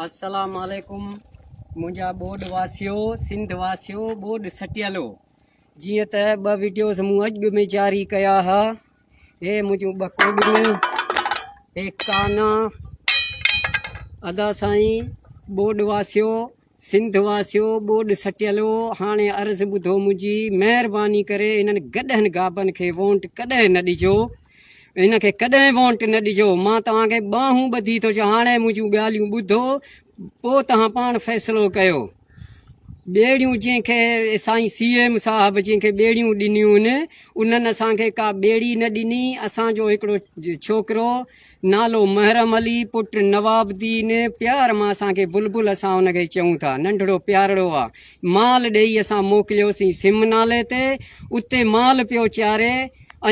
السلام عليڪم منهنجا ٻوڏ واسيو سنڌ واسيو ٻوڏ سٽيلو جيئن ته ٻه ويڊيوز مون اڄ به ۾ جاري ڪيا ها هي منهنجون ٻه ڪوڏيون هي ڪانا ادا سائين ٻوڏ واسيو سنڌ واسيو ٻوڏ سٽيلو هاڻي عرض ٻڌو منهنجي مهرباني ڪري انهن گڏهن گابن کي وونٽ ڪڏهن نه ڏجو ان کي ڪڏهن وونٽ نه ڏجو مان توهان کي ٻانهون ٻڌي ٿو چا هاڻي منهنجون ڳالهيون ٻڌو پو توهان پاڻ فيصلو ڪيو ٻيڙيون جنهن کي سائين سي ايم صاحب جنهن کي ٻيڙيون ڏنيون انهن اسان کي ڪا ٻيڙي نه ڏني اسان جو هڪڙو ڇوڪرو نالو محرم علي پٽ نواب دين پيار مان اسان کي بلبل اسان ان کي چئون ٿا ننڍڙو پيارڙو آ مال ڏئي اسان موڪليوسين سم نالي تي اتي مال پيو چاري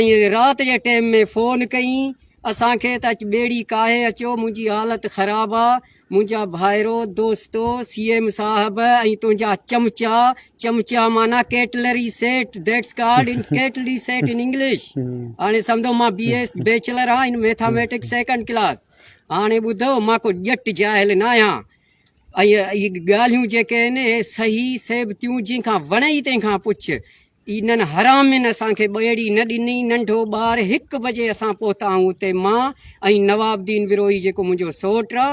۽ رات جي ٽيم ۾ فون ڪئين اسان کي ته اچ ٻيڙي ڪاهي اچو منهنجي حالت خراب آ منهنجا ڀائرو دوستو سي ايم صاحب ۽ تنهنجا چمچا چمچا معنيٰ cutlery set that's called in cutlery set in English هاڻي سمجهو مان بي ايس بيچلر آهيان ان ميٿاميٽڪس سيڪنڊ ڪلاس هاڻي ٻڌو مان ڪو ڄٽ جاهل نه آهيان ۽ ڳالهيون جيڪي آهن اهي صحيح ثابتيون جن کان وڻي تنهن کان پڇ انهن حرامين اسان کي ٻيڙي نه ڏني، ننڍو ٻار، هڪ بجي اسان پهتا آهيون اتي، مان ۽ نواب دين وروهي جيڪو منهنجو سئوٽ آ،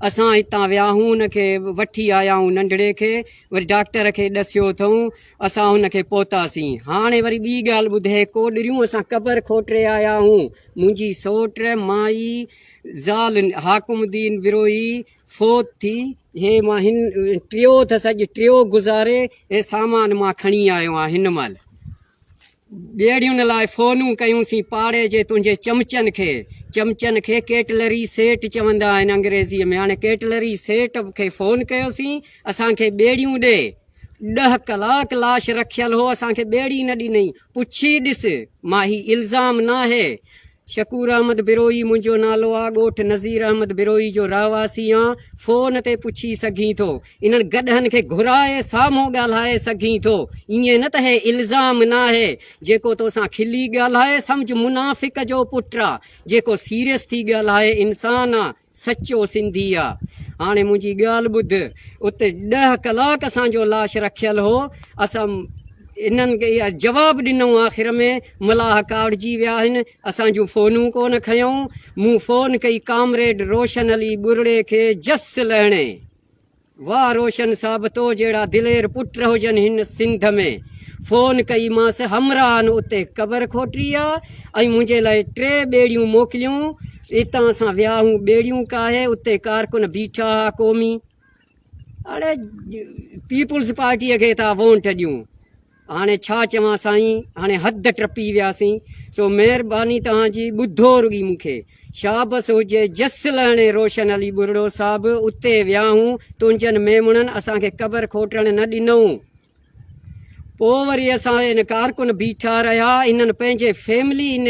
اسان هتان ويا آهيون ان کي وٺي آيا آهيون ننڍڙي کي، وري ڊاڪٽر کي ڏسيو اٿئون، اسان هن کي پهتاسين، هاڻي وري ٻي ڳالهه ٻڌي ڪوڏريون اسان قبر کوٽري آيا آهيون، منهنجي سئوٽ، مائي، زال حاڪم دين وروهي، فوت ٿي هي مان هن ٽيو اٿس اڄ ٽيو گذاري هي سامان مان کڻي آيو آهيان هن مهل ٻيڙيون لاء فونون ڪيون سين پاڙي جي تنهنجي چمچن کي چمچن کي ڪيٽلري سيٽ چوندا آهن انگريزي ۾ هاڻي ڪيٽلري سيٽ کي فون ڪيو سين اسان کي ٻيڙيون ڏي ڏه ڪلاڪ لاش رکيل هو اسان کي ٻيڙي نه ڏني پڇي ڏس ماهي الزام ناهي شڪور احمد بروهي، منهنجو نالو آ، ڳوٺ نظير احمد بروهي جو رهواسي آن، فون تي پڇي سگهين ٿو، انهن گڏهن کي گهرائي سامهون ڳالهائي سگهين ٿو، ائين نه ته هي الزام ناهي، جيڪو توسان کلي ڳالهائي سمجهه منافق جو پٽ آ، جيڪو سيريس ٿي ڳالهائي انسان آ، سچو سنڌي آ هاڻي منهنجي ڳالهه ٻڌ اتي ڏهه ڪلاڪ اسان جو لاش رکيل هو اسان انهن کي جواب ڏنو آخر ۾ ملاح ڪاڙجي ويا آهن اسان جون فونون ڪون کنيائون مون فون ڪئي ڪامريڊ روشن علي ٻرڙي کي جس لهڻي واه روشن صاحب تو جهڙا دلير پٽ هجن هن سنڌ ۾ فون ڪئي مانس همراهن اتي قبر کوٽي آ ۽ منهنجي لاء ٽي ٻيڙيون موڪليون اتان اسان وياهون ٻيڙيون ڪاهي اتي ڪارڪن بيٺا ها قومي اڙي پيپلز پارٽي کي ٿا وونٽ ڏيون هاڻي ڇا چوان سائين هاڻي حد ٽپي وياسين سو مهرباني توهان جي ٻڌو رڳي مون کي شابس هجي جس لهڻي روشن علي ٻرڙو صاحب اتي وياهون تنهنجن ميمڻن اسان کي قبر کوٽڻ نه ڏنئون پوء وري اسان ان ڪارڪن بيٺا رهيا انهن پنهنجي فيملي ان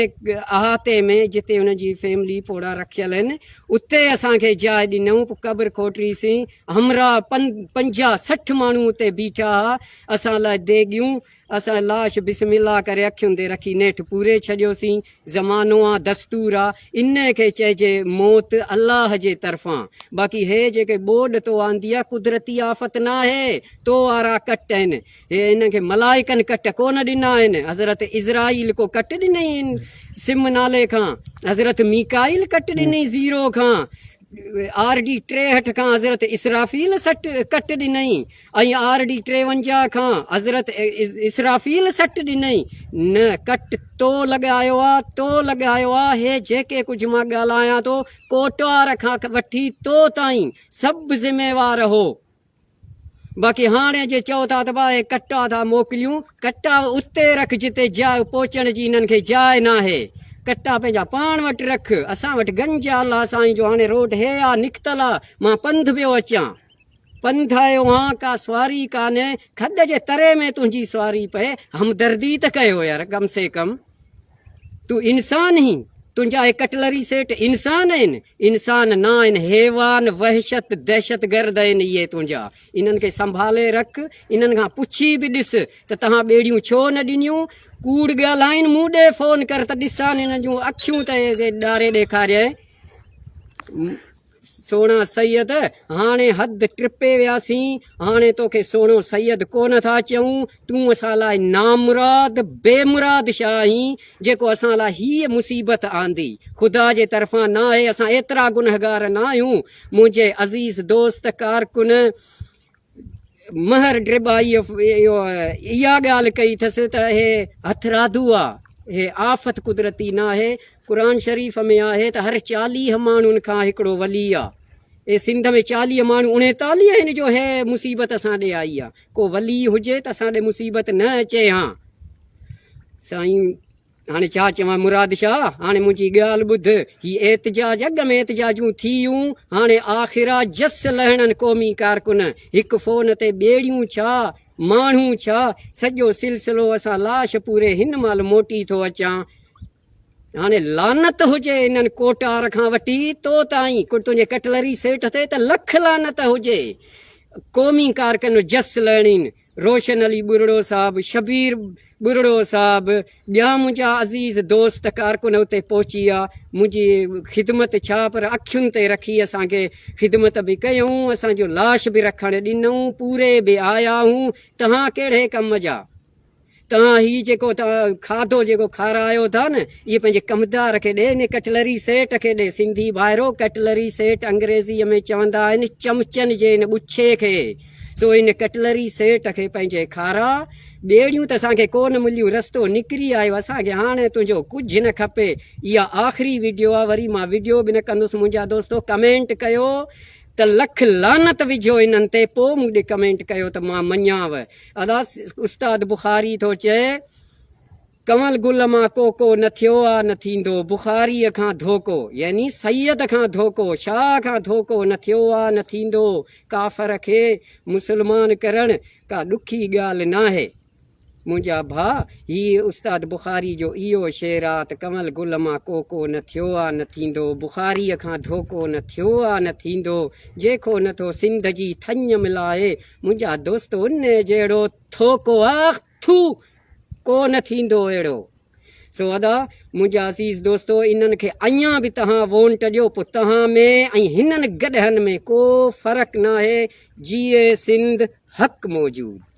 احاطي ۾ جتي انهن جي فيملي پوڙا رکيل آهن اتي اسان کي جاء ڏنئون پوء قبر کوٽريسين همراهه پنجاهه سٺ ماڻهو اتي بيٺا هئا اسان لاء ديڳيون، اسان لاش بسم الله ڪري اکين تي رکي نيٺ پوري ڇڏيوسين. زمانو آ، دستور آ، انهيء کي چئجي موت الله جي طرفان. باقي هيء جيڪي ٻوڏ تو آندي آ، قدرتي آفت ناهي، تو وارا ڪٽ آهن. هيء انهن کي ملائڪن ڪٽ ڪونه ڏنا آهن. حضرت عزرائيل ڪو ڪٽ ڏنئين سم نالي کان، حضرت ميڪائيل ڪٽ ڏنئين زيرو کان، آر ڊي ٽيهٺ کان حضرت اسرافيل سٽ ڪٽ ڏنئين، ۽ آر ڊي ٽيونجا کان حضرت اسرافيل سٽ ڏنئي، نه ڪٽ تو لڳايو آ، تو لڳايو آ، هي جيڪي ڪجهه مان ڳالهايان ٿو، ڪوٽوار کان وٺي تو تائين سڀ ذميوار هو. باقي هاڻي جي چئو ٿا ته باهه ڪٽا ٿا موڪليون، ڪٽا اتي رک جتي جاء پهچڻ جي هنن کي جاء ناهي. ڪٽا پنهنجا پاڻ وٽ رک، اسان وٽ گنج آ، الله سائين جو هاڻي روڊ هي آ، نڪتل آ، مان پنڌ پيو اچان. پنڌ آيو آن ڪا سواري ڪانهي کڏ جي تري ۾ تنهنجي سواري پئي همدردي ته ڪيو يار ڪم سي ڪم تون انسان هين تنهنجا هي ڪٽلري سيٽ انسان آهن انسان نه آهن حيوان وحشت دهشت گرد آهن اهي تنهنجا انهن کي سنڀالي رک انهن کان پڇي به ڏس ته تهان ٻيڙيون ڇو نه ڏنيون ڪوڙ ڳالهائين مون ڏي فون ڪر ته ڏسان هن جون اکيون ته ڏاري ڏيکاريائين سهڻا سيد هاڻي حد ٽپي وياسين هاڻي توکي سهڻو سيد ڪونه ٿا چئون تون اسان لاء نامراد بي مراد شاهه آهين جيڪو اسان لاء هيء مصيبت آندي خدا جي طرفان نه آهي اسان ايترا گنهگار نه آهيون منهنجي عزيز دوست ڪارڪن مهر ڊربائيء اها ڳالهه ڪئي ٿس ته اهي هٿرادو آ، هي آفت قدرتي ناهي، قرآن شريف ۾ آهي ته هر چاليهه ماڻهن کان هڪڙو ولي آ، اي سنڌ ۾ چاليهه ماڻهو اڻيتاليهه آهن جو هي مصيبت اسان ڏي آئي آ، ڪو ولي هجي ته اسان ڏي مصيبت نه اچي هان سائين. هاڻي ڇا چوان مراد شاهه، هاڻي منهنجي ڳالهه ٻڌ، هي احتجاج اڳ ۾ احتجاجون ٿيون، هاڻي آخر آ جس لهڻن قومي ڪارڪن، هڪ فون تي ٻيڙيون ڇا، ماڻهو ڇا، سڄو سلسلو اسان لاش پوري هن مهل موٽي ٿو اچان. هاڻي لعنت هجي انهن ڪوٽار کان وٺي تو تائين، تنهنجي ڪٽلري سيٽ تي ته لک لعنت هجي، قومي ڪارڪن جس لهڻين روشن علي ٻرڙو صاحب، شبير ٻرڙو صاحب، ٻيا منهنجا عزيز دوست ڪارڪن اتي پهچي ويا، منهنجي خدمت ڇا پر اکين تي رکي اسان کي خدمت به ڪيائون، اسان جو لاش به رکڻ ڏنائون، پوري به آيا هون، توهان ڪهڙي ڪم جا؟ توهان هي جيڪو کاڌو جيڪو کارايو ٿا نه اهي پنهنجي ڪمدار کي ڏي ان ڪٽلري سيٽ کي ڏي سنڌي ڀائرو ڪٽلري سيٽ انگريزي ۾ چوندا آهن چمچن جي ان ڳڇي کي سو ان ڪٽلري سيٽ کي پنهنجي کارا ٻيڙيون ته اسان کي ڪو نه مليون رستو نڪري آيو اسان کي هاڻي تنهنجو ڪجهه نه کپي اها آخري ويڊيو آهي وري مان ويڊيو به نه ڪندس منهنجا دوستو ڪمينٽ ڪيو ته لک لعنت وجهو انهن تي پوء مون ڏي ڪمينٽ ڪيو ته مان مڃيانو اداس استاد بخاري ٿو چئي، ڪنول گل مان ڪو ڪو نه ٿيو آ نه ٿيندو، بخاريء کان ڌوڪو، يعني سيد کان ڌوڪو، شاهه کان ڌوڪو نه ٿيو آ نه ٿيندو، ڪافر کي مسلمان ڪرڻ ڪا ڏکي ڳالهه ناهي. منهنجا ڀاء، هيء استاد بخاري جو اهو شعر آ ته ڪنول گل مان ڪو ڪو نه ٿيو آ نه ٿيندو، بخاريء کان ڌوڪو نه ٿيو آ نه ٿيندو، جيڪو نه ٿو سنڌ جي ٿڃ ملائي، منهنجا دوست ان جهڙو ٿوڪو آخ ٿو ڪو نه ٿيندو اهڙو سو ادا منهنجا عزيز دوستو انهن کي اڃا به تهان وونٽ ڏيو پو تهان ۾ ۽ هنن گڏهن ۾ ڪو فرق ناهي جيئي سنڌ حق موجود.